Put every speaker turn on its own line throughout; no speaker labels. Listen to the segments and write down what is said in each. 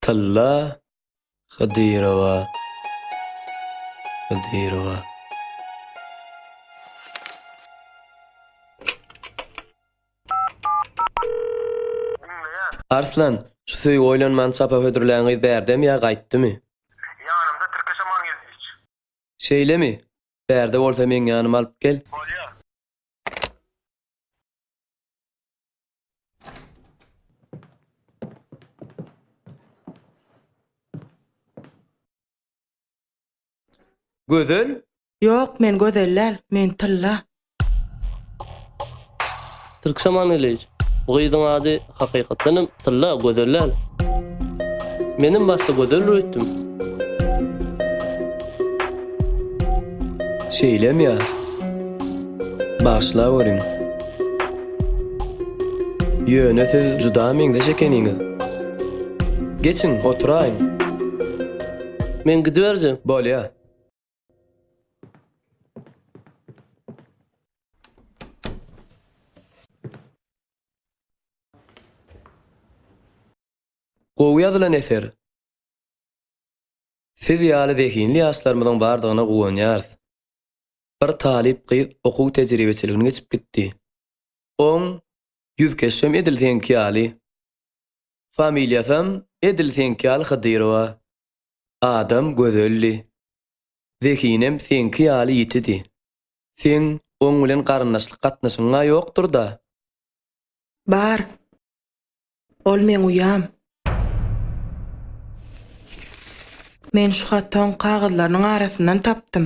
Tylla Hydyrowa Hydyrowa Arslan, şu söýgi oýlanmany çapa hödürlän gyz bärdemi ýa gaýtdymy? Ýanymda tirkeş aman geldiç. Şeýlemi? Bärde bolsa meň ýanyma alyp gel. Bolýar. Gözel, Ýok men gözel däl men tylla. Türksaman Ilij, bu gyzyň ady hakykatdan hem Tylla, gözel däl. Menem başda gözeldir öýtdüm. Şeýlem ýa? Bagyşlaweriň. Ýöne siz juda meňzeş ekeniňiz. Geçiň, oturaýyň. Men gidiberjek. Bolýa. Gowy ýazylan eser. Siz ýaly zehinli ýaşlarymyzyň bardygyna guwanýarys. Bir talyp gyz okuw tejribeçiligini geçip gitdi. Oň ýüzkeşem edil seňki ýaly. Familiýasam edil seňki ýaly Hydyrowa. Adam gözeldi. Zehinem seňki ýaly ýitidi. Seň oň bilen garyndaşlyk gatnaşygyň-a ýokdur-da? Bar. Ol meň uýam. Men şu haty oň kagyzlarynyň arasyndan tapdym.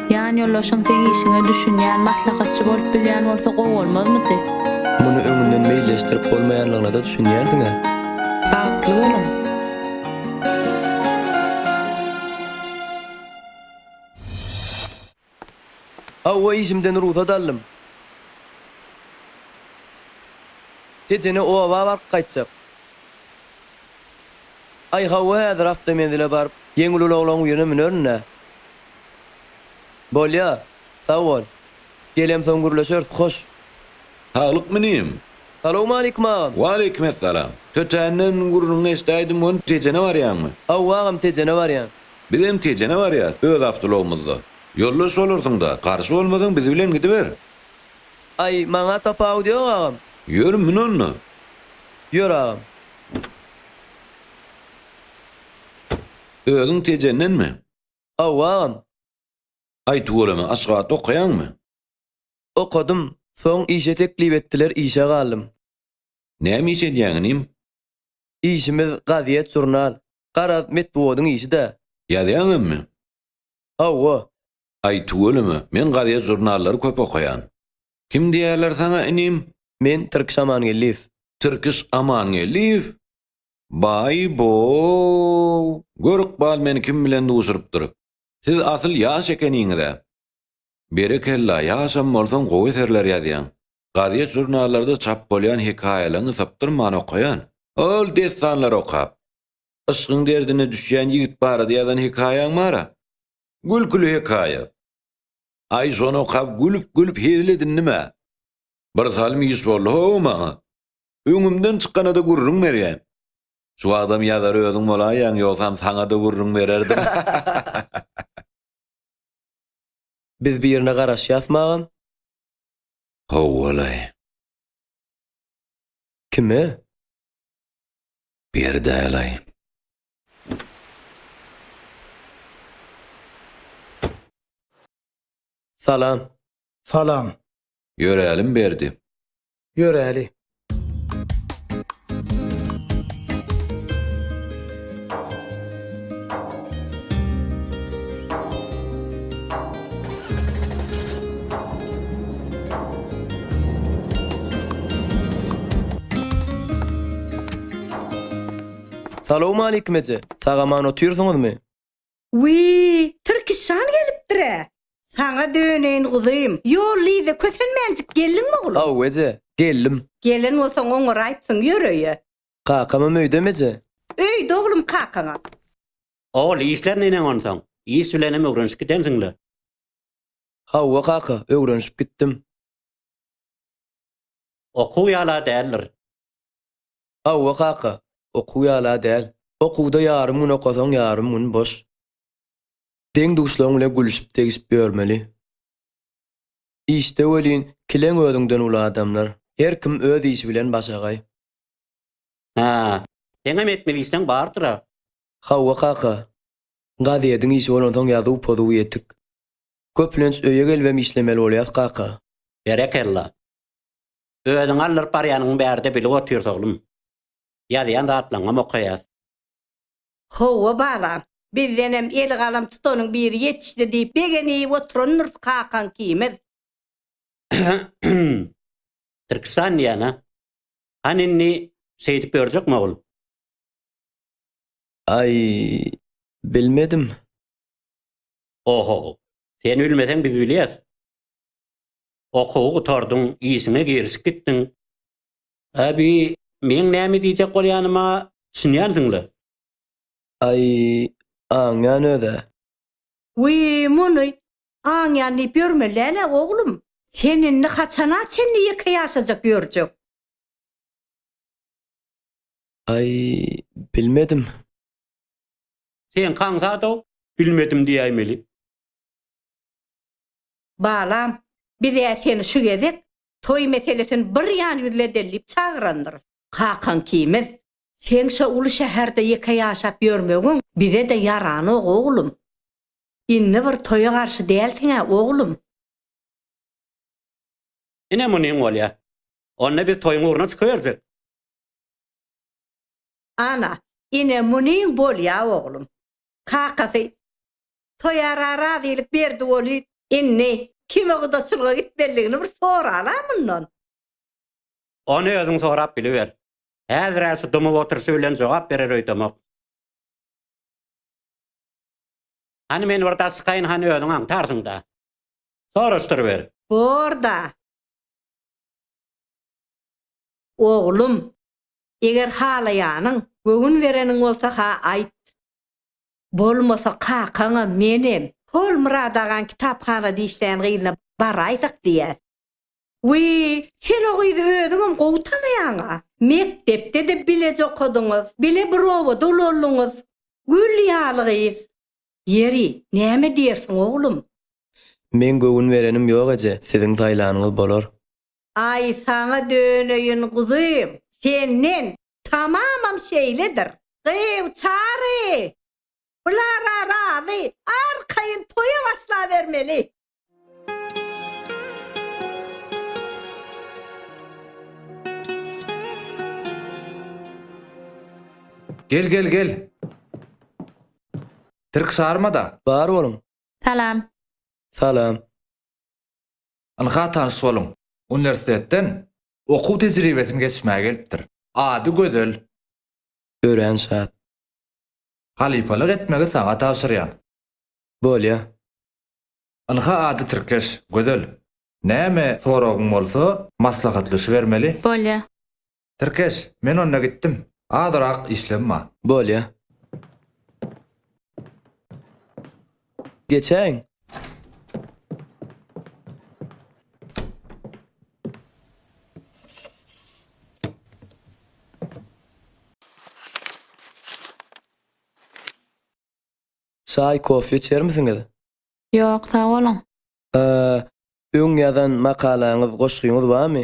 Ýanýoldaşyň seň işiňe düşünýän, maslahatçy bolup bilýän bolsa gowy bolmazmydy? Muny öňünden meýilleşdirip bolmaýanlygyna-da düşünýärsiň-ä? Bagtly boluň! Hawa, işimden rugsat aldym. Tetene oba baryp gaýtjak. Aý, hawa, häzir awtomenzile baryp, ýeňil ulaglaryň birine münerin-dä. Bolýa, sag bol. Gelemsoň gürleşeris, hoş. Saglykmy inim? Salowmaleýkim agam. Waleýkimessalam. Tötänden gürrüňiňi eşdäýdim, hony Tejene barýaňmy? Hawa agam Tejene barýan. Bizem Tejene barýas, öz awtologymyzda. Ýoldaş bolarsyň-da, garşy bolmasaň biz bilen gidiber. Aý, maňa tapawut ýok agam. Ýör, mün onda. Ýör agam. Özüň Tejendenmi? Awam! Aý tüweleme Aşgabatda okaýaňmy? Okadym, soň işe teklip etdiler işe galdym. Näme iş edýäň inim? Işimiz gazýet žurnal. Garaz metbugadyň işi-dä. Ýazýaň emmi? Hawa. Aý tüweleme, men gazýet žurnallary köp okaýan. Kim diýýärler saňa inim? Men Tirkiş Amangeldiýew. Tirkiş Amangeldiýew? Baý boow! Gör ykbal meni kim bilen duşurypdyr. Siz asyl ýaş ekeniňiz-ä. Berekella, ýaşam bolsaň gowy eserler ýazýaň. Gazet žurnallarda çap bolýan hekaýalaňy sypdyrman okaýan. Ol dessanlary okap. Yşkyň derdine düşýän ýigit barada ýazan hekaýaň bar-a. Gülküli hekaýa. Aý şony okap gülüp gülüp hezil edindim-ä. Birsalym iş boldy-how maňa. Öňümden çykana-da gürrüň berýän. Şu wagtam ýazar özüň bolaýaň, ýogsam saňa-da gürrüň bererdim. Biz birine garaşýasmy agam? Howwalaý. Kime? Berdälaý. Salam. Salam. Ýörälim Berdi. Ýöräli! Salowmaleýkim eje! Sag-aman otyrsyňyzmy? Wiý, Tirkişjan gelipdir-ä! Saňa döneýin, guzym. Ýollyýda kösenmänjik geldiňmi, oglum? Haw, eje, geldim. Gelen bolsaň, oňaraýypsyň, ýör öýe. Kakamam öýdemi, eje? Öýde, oglum, kakaňam. Ogul, işler neneň onsoň? Iş bilenem öwrenişip gidensiň-le? Hawa, kaka, öwrenişip gitdim. Okuw ýala däldir. Hawa kaka, okuw ýala däl. Okuwda ýarym gün okasaň ýarym gün boş. Deň-duşlaň bile gülüşip-degişip ýörmeli. Işde welin kileň özüňden uly adamlar. Her kim öz işi bilen başagaý. Hä, seňem etmeli işleň bardyr-a? Hawa kaka. Gazediň işi bolansoň ýazuw-pozuw ýetik. Köplenç öýe gelibem işlemeli bolýas kaka. Berekella. Özüňi aldyryp barýanyňy bärde bilip otyrys oglum. Ýazýan zatlaňňam okaýas. Howwa balam. Bizdenem eli galam tutanyň biri ýetişdi diýip begenip oturandyrys kakaň ikimiz. Tirkistan diýýän-a. Hany indi şeýdip ýörjekmi ogul? Aý, bilmedim. Oho. Sen bilmeseň biz bilýäs. Okuwy gutardyň, işiňe girişip gitdiň. Abi, meň näme diýjek bolýanyma düşünýänsiň-le? Aý, aňýan öz-ä. Wiý, muny aňýan diýip ýörme, Läle oglum. Sen indi haçana çenli ýeke ýaşajak ýörjek? Aý, bilmedim. Seňki aňsat-ow, bilmedim diýäýmeli. Balam, biz-ä seni şu gezek toý meselesini bir ýan ýüzledeli diýip çagyrandyrys. Kakaň kimiz? Seň şo uly şäherde ýeke ýaşap ýörmegiň bize-de ýaranok, oglum. Indi bir toýa garşy dälsiň-ä, oglum? Ine munyň bolýa. Onda biz toýuň ugruna çykyberjek. Ana, ine munyň bolýa, oglum. Kakasy Toýara razylyk berdi woli. Indi kime gudaçylyga gitmelidigini bir sorala mundan. Ony özüň sorap biliber. Häzir-ä şu dymyp oturyşy bilen jogap berer öýdemok. Hany men bir daşykaýyn hany özüň aňtarsyň-da. Soraşdyryber. Bor-da. Oglum, eger halaýanyň, göwün bereniň bolsa-ha aýt. Bolmasa kakaňam, menem, hol Myrat agaň kitaphanada işleýän gyzyna baraýsak diýýäs. Wiý, sen o gyzy özüňem gowy tanaýaň-a. Mekdepde-de bileje okadyňyz, bile bir obada ulaldyňyz. Gül ýaly gyz. Ýeri, näme diýersiň, oglum? Meň göwün berenim ýok eje, siziň saýlanyňyz bolar. Aý saňa döneýin guzym, senden tamamam şeýledir. Gyw Çary! Bulara razy, arkaýyn toýa başlabermeli! Gel gel gel. Tirkişarmada. Bar boluň. Salam. Salam. Ynha tanyş boluň. Uniwersitetden okuw tejribesini geçmäge gelipdir. Ady Gözel. Örän şat. Halypalyk etmegi saňa tabşyrýan. Bolýa. Ynha ady tirkeş, Gözel. Näme soragyň bolsa, maslahatlaşybermeli. Bolýa. Tirkeş, men onda gitdim. Azyrak işlem bar. Bolýa. Geçäýiň. Çaý, kofe içermisiňiz? Ýok, sag boluň. Öň ýazan makalaňyz, goşgyňyz barmy?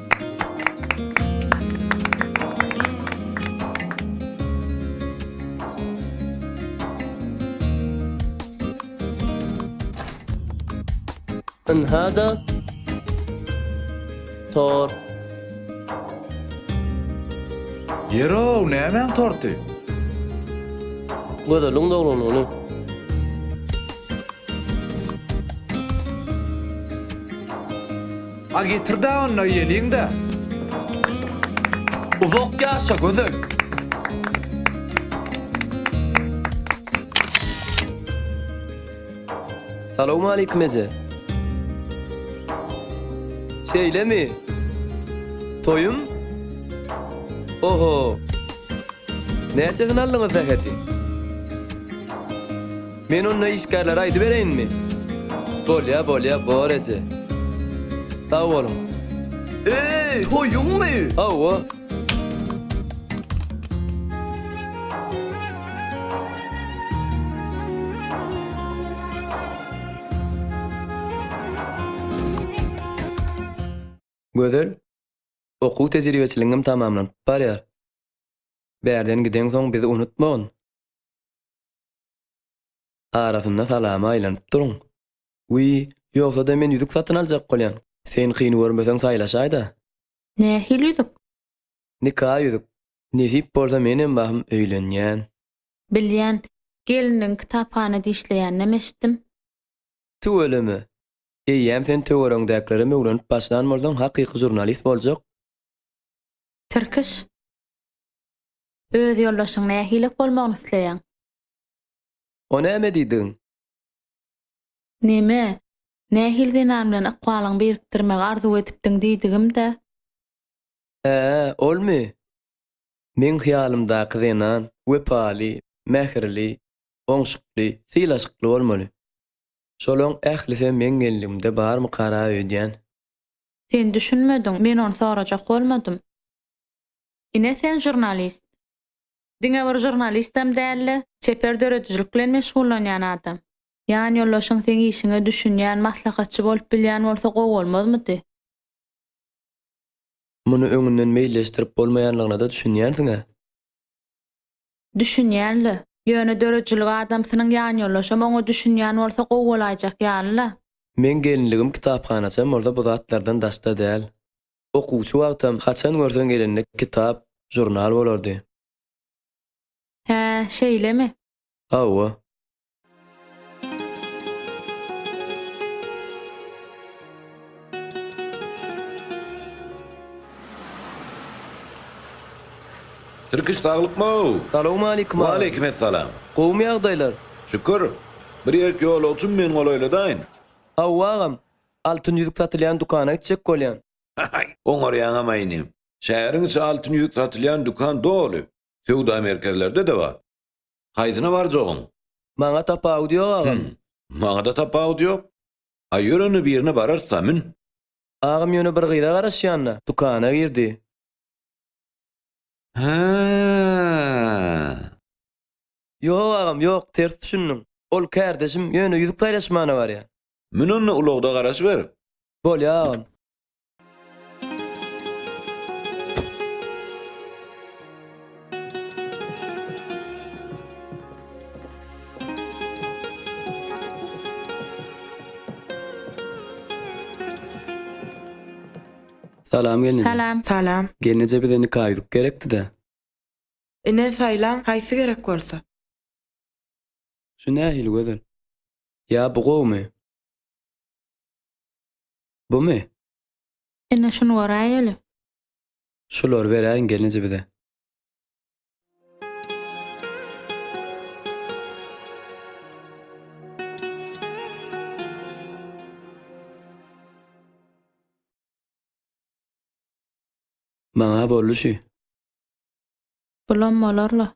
Ynha-da tort. Ýeri-ow, nämäň torty? Gözeliň doglan güni. A getirda onda ýeliňda. Uzak ýaşa gözel. Salowmaleýkim eje. Şeýlemi? Toýum? Oho. Näçe hyn aldyňyz zäheti? Men onda işgärlere aýdybereýinmi? Bolýa, bolýa, bor eje. Sag boluň. Eý, toýuňmy? Hawa. Gözel, okuw tejribeçiligiňem tamamlanyp barýar. Bärden gideňsoň bizi unutmagyn. Arasynda salama aýlanyp duruň. Wiý, ýogsa-da men ýüzük satyn aljak bolýan. Sen kyn görmeseň saýlaşaý-da. Nähili ýüzük? Nika ýüzük. Nesip bolsa menem bahym öýlenýän. Bilýän. Gelniň kitaphanada işleýäninem eşitdim. Tüweleme. Eýýäm sen töweregiňdäkilere möwlenip başlan bolsaň hakyky žurnalist boljak. Tirkiş. Öz ýoldaşyň nähili bolmagyny isleýäň? O näme diýdigiň? Neme? Nähili zenan bilen ykbalyňy birikdirmegi arzuw edipdiň diýdigim-dä? Hä-ä, olmy? Meň hyýalymdaky zenan wepaly, mähirli, oňşukly, sylaşykly bolmaly. Şolaň ählisem meň gelnigimde barmykara öýdýän? Sen düşünmediň, men ony sorajak bolmadym. Ine sen žurnalist. Diňe bir žurnalistem dälde, çeper döredijilik bilen meşgullanýan adam. Ýan ýoldaşyň seň işiňe düşünýän, maslahatçy bolup bilýän bolsa gowy bolmazmydy? Muny öňünden meýilleşdirip bolmaýanlygyna-da düşünýänsiň-ä? Düşünýän-le. Ýöne döredijilik adamsynyň ýan ýoldaşam oňa düşünýän bolsa gowy bolaýjak ýaly-la. Meň gelinligim kitaphanaçam bolsa bu zatlardan daşda däl. Okuwçy wagtam haçan görseň elinde kitap, žurnal bolardy. Hä, şeýlemi? Hawa. Tirkiş, saglykmy-ow! Salowmaleýkim aga! Waleýkim essalam! Gowumy ýagdaýlar? Şükür. Bir ýerik ýolagçym men golaýladaýyn. Hawa agam. Altyn ýüzük satylýan dükana gitjek bolýan. Haý, oňarýaňam-aý inim. Şäheriň içi altyn ýüzük satylýan dükan doly. Söwda merkezlerde-de bar. Haýsyna barjagyň? Maňa tapawudy ýok, agam. Hüm, maňa-da tapawudy ýok. A ýörende birine bararys-a, mün. Agam ýöne bir gyza garaşýan-da, dükana girdi. Hä-ä-ä. Ýok, agam, ýok, ters düşündiň. Ol kärdeşim ýöne ýüzük saýlaşmana barýar. Mün onda ulagda garaşyber. Bolýa agam. Salam gelneje. Salam. Salam. Gelneje bize nika ýüzük gerekdi-de. Ine saýlaň haýsy gerek bolsa. Şu nähili gözel. Ýa bu gowumy? Bumy? Ine şuny göräýeli. Şulary beräýiň gelneje bize. Maňa boldy şu. Bulam bolar-la.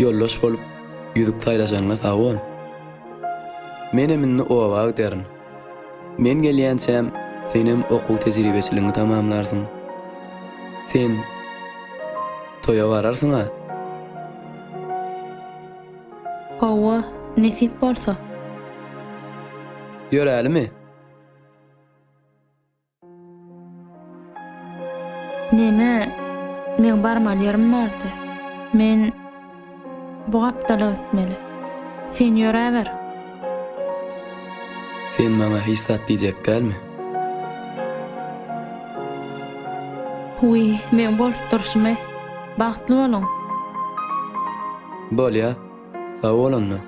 Ýoldaş bolup ýüzük saýlaşanyňa sag bol. Menem indi oba giderin. Men gelýänçäm senem okuw tejribeçiligiňi tamamlarsyň. Sen toýa bararsyň-a? Hawa, nesip bolsa. Ýörälimi? Neme, meň barmaly ýerim bardy. Men bu gapdala gitmeli. Sen ýöräber. Sen maňa hiç zat diýjek dälmi? Wiý, meň bolup durşumy. Bagtly boluň. Bolýa. Sag bol onda.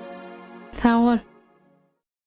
Sag bol.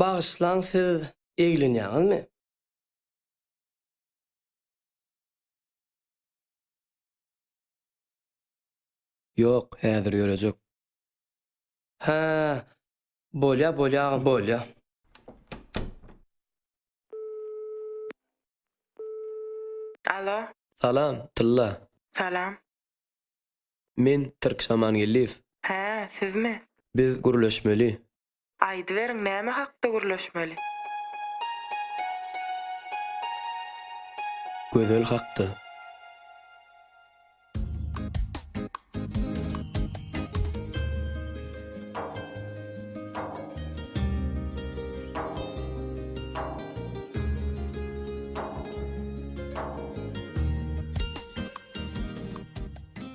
Bagyşlaň siz eglenýäňizmi? Ýok häzir ýörejek. Hä, bolýa, bolýa agam, bolýa. Alo. Salam, tylla. Salam. Men Türk Şamangeldiýew. Hä, sizmi? Biz gürleşmeli. Aýdyberiň, näme hakda gürleşmeli? Gözel hakda.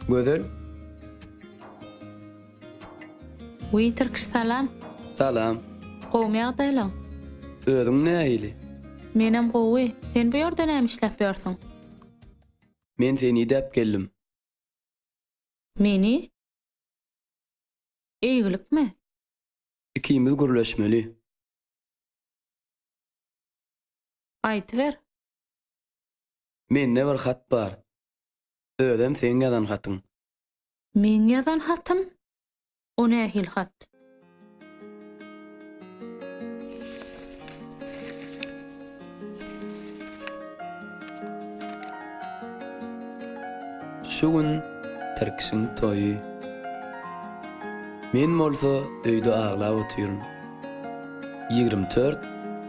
Gözel. Wiý Tirkiş salam. Salam. Gowmy ýagdaýlaň? Özüň nähili? Menem gowy. Sen bu ýerde näme işläp ýörsüň? Men seni idäp geldim. Meni? Eýgilikmi? Ikimiz gürleşmeli. Aýdyber. Mende bir hat bar. Özem seň ýazan hatyň. Meň ýazan hatym? O nähili hat? Şu gün Tirkişiň toýy. Men bolsa öýde aglap otyryn. Ýigrimi dört,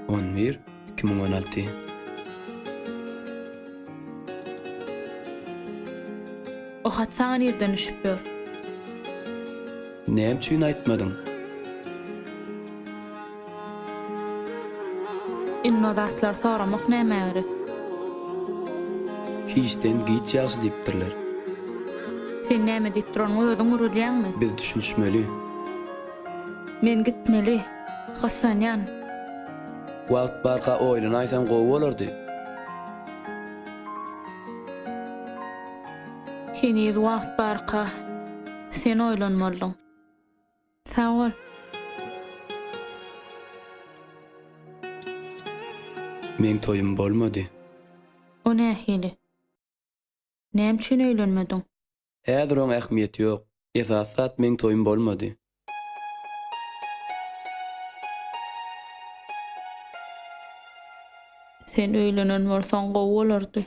on bir. Kimiň öneltdi? O hat saňa nirden düşüp ýör? Näme üçin aýtmadyň? Indi o zatlary soramak nämä gerek? Hiçden giç ýagşy diýipdirler. Sen näme diýip duranyňy özüň gürülýäňmi? Biz düşünişmeli. Men gitmeli. Gyssanýan. Wagt barka oýlanaýsaň gowy bolardy. Heniz wagt barka sen oýlanmalydyň. Sag bol. Meň toýum bolmady. O nähili? Näme üçin öýlenmediň? Häzir oň ähmiýeti ýok. Esasy zat meň toýum bolmady. Sen öýlenen bolsaň gowy bolardy.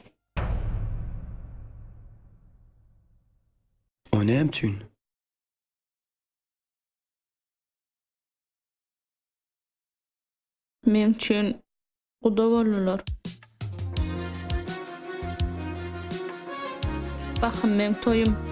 O näme üçin? Meň üçin Guda boldular. Bahym meň toýum.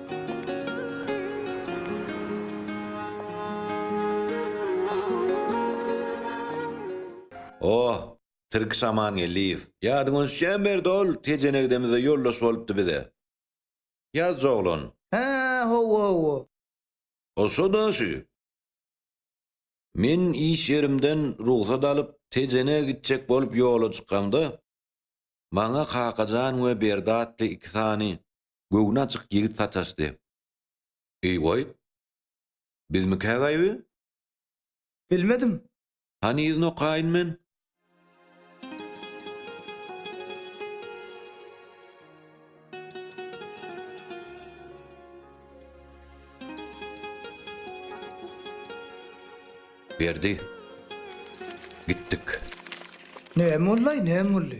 Oh, Tirki Şamangeldiýew. Ýadyňa düşýän Berdi ol, Tejenegdemizde ýoldaş bolupdy bize. Ýazjy oglan. Hä, hawa, hawa. O şo-da şu. Men iş ýerimden rugsat alyp, Tejenege gitjek bolup ýola çykamda, maňa Kakajan we Berdi atly iki sany Göwni açyk ýigit sataşdy. Eý, goý. Bizmikä gaýby? Bilmedim. Hany yzyny okaýyn men. Berdi. Gitdik. Näme boldy-aý, näme boldy?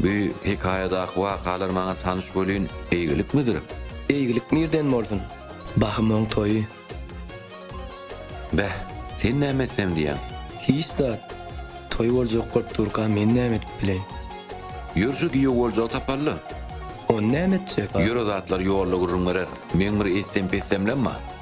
Bu hekaýadaky wakalar maňa tanyş welin, eýgilikmidir? Eýgilik nirden bolsun? Bahymyň toýy. Beh, sen näme etsem diýýäň? Hiç zat. Toý boljak bolup durka men näme edip bileýin? Ýör şu giýew boljagy tapaly-da. Ony näme etjek? Ýör o zatlar ýolda gürrüň berer. Meň bir etsem-petsemlem bar.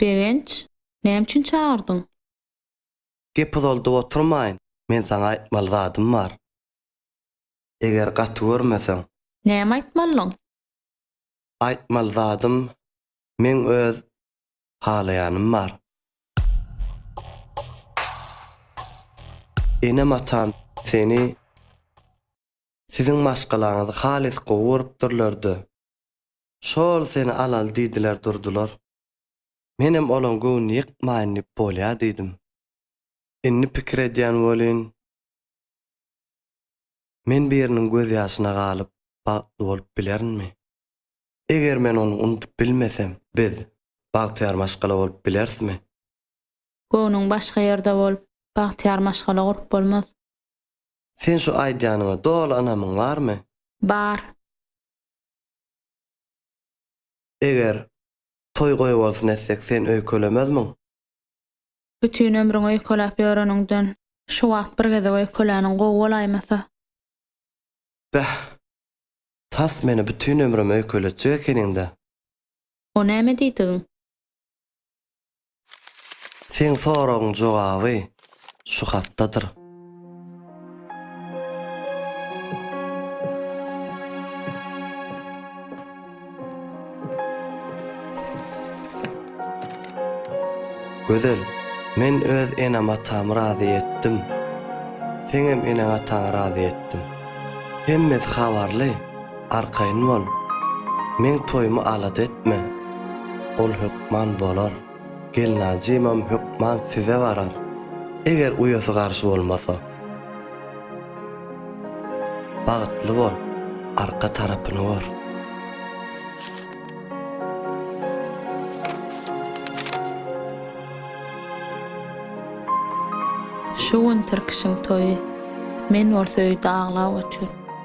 Begenç, näme üçin çagyrdyň? Gep uzaldyp oturmaýyn, men saňa aýtmaly zadym bar. Eger gaty görmeseň. Näme aýtmalyň? Aýtmaly zadym, meň öz halaýanym bar. Enem-atam seni, siziň maşgalaňyzy halys gowy görüpdirler-de, şol seni alaly diýdiler durdular. Menem olaň göwnüni ýykmaýyn diýip bolýa diýdim. Indi pikir edýän welin, men biriniň gözýaşyna galyp, bagtly bolup bilerinmi? Eger men ony unudyp bilmesem, biz bagtyýar maşgala bolup bilerismi? Göwnüň başga ýerde bolup, bagtyýar maşgala gurup bolmaz. Sen şu aýdýanyňa doly ynamyň barmy? Bar. Eger toý goýbolsun etsek, sen öýkelemezmiň? Bütin ömrüň öýkeläp ýöreniňden, şu wagt bir gezek öýkeläniň gowy bolaýmasa? Bäh! Tas meni bütin ömrüm öýkeletjek ekeniň-dä. O näme diýdigiň? Seň soragyň jogaby şu hatdadyr. Gözel, men öz enem-atamy razy etdim. Seňem eneň-ataňy razy etdim. Hemmesi habarly, arkaýyn bol. Meň toýumy alada etme. Ol hökman bolar. Gelnajymam hökman size barar, eger uýasy garşy bolmasa. Bagtly bol, arka tarapyny gör. Şu gün Tirkişiň toýy. Men bolsa öýde aglap otur.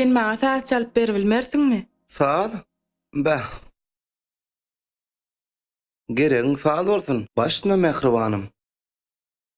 Sen maňa saz çalyp beribilmersiňmi? Saz? Bäh. Geregiň saz bolsun, başyna mähribanym.